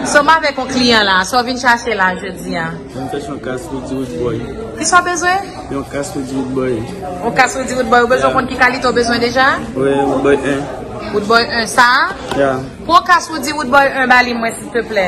Sa w avèk yon kliyan la, sa w vin chache la jodi a? Mwen vin chache yon kas Roody Roodboy. Ki sa w bezwen? Yon kas Roody Roodboy. Yon kas Roody Roodboy. Ou bezwen konn ki kalite ou bezwen deja? Wi, Roodboy 1. Roodboy 1 sa a? Ya. Pou yon kas Roody Roodboy 1 ba li mwen silteplè.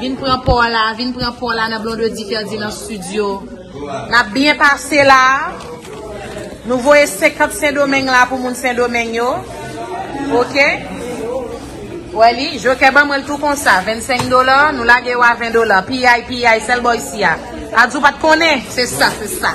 Vin pran paw la, vin pran paw la nan Blondedy Ferdy nan studio. Nap byen pase la. Nou voye 50 sendomeng la pou moun sendomeng yo. Ok. Ou wè li, jokè ban mwen l tou konsa. 25 dola, nou lage yo a 20 dola. Piyay, piyay, sèl bò isi a. Adz ou pat konnen? Se sa, se sa.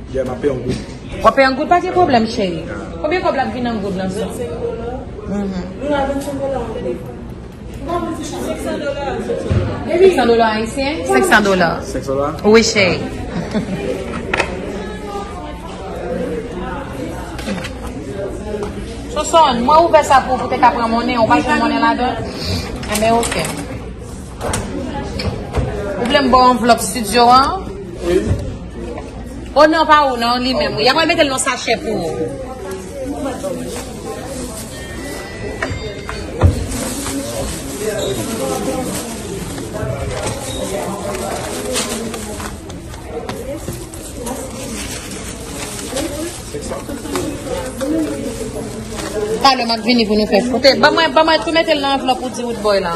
Yeah map pay an goud. Wap pay an goud pa gen pwoblem cheri. Konbyen kob lap vin an goud nan sa. Seksan dola ayisyen? Seksan dola. Seksan dola? Wi cheri. Sonson, mwen ouvè sa pou ou pou te ka pran monnen, ou pa jwenn monnen ladan? Enben eh ok. Ou vle m ba w anvlòp studio an? Wi. Oh non pa ou non li menm wi ya pral metel nan sachè pou ou. Talè map vini pou nou fè. Kote ban mwen ban mwen tou metel nan anvlòp ou di wood boy la.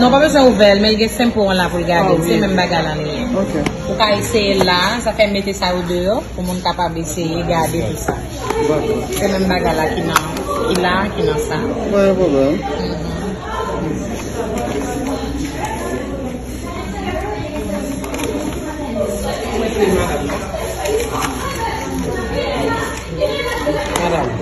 Non pa bezwen ouvèl men li gen senpo an la poul gadel se menm bagay lan li ye ou ka eseyel la zafè mete sa yo deyò pou moun kapab eseye gade tout sa se menm bagay la ki nan ki la ki nan sa pa gen pwoblèm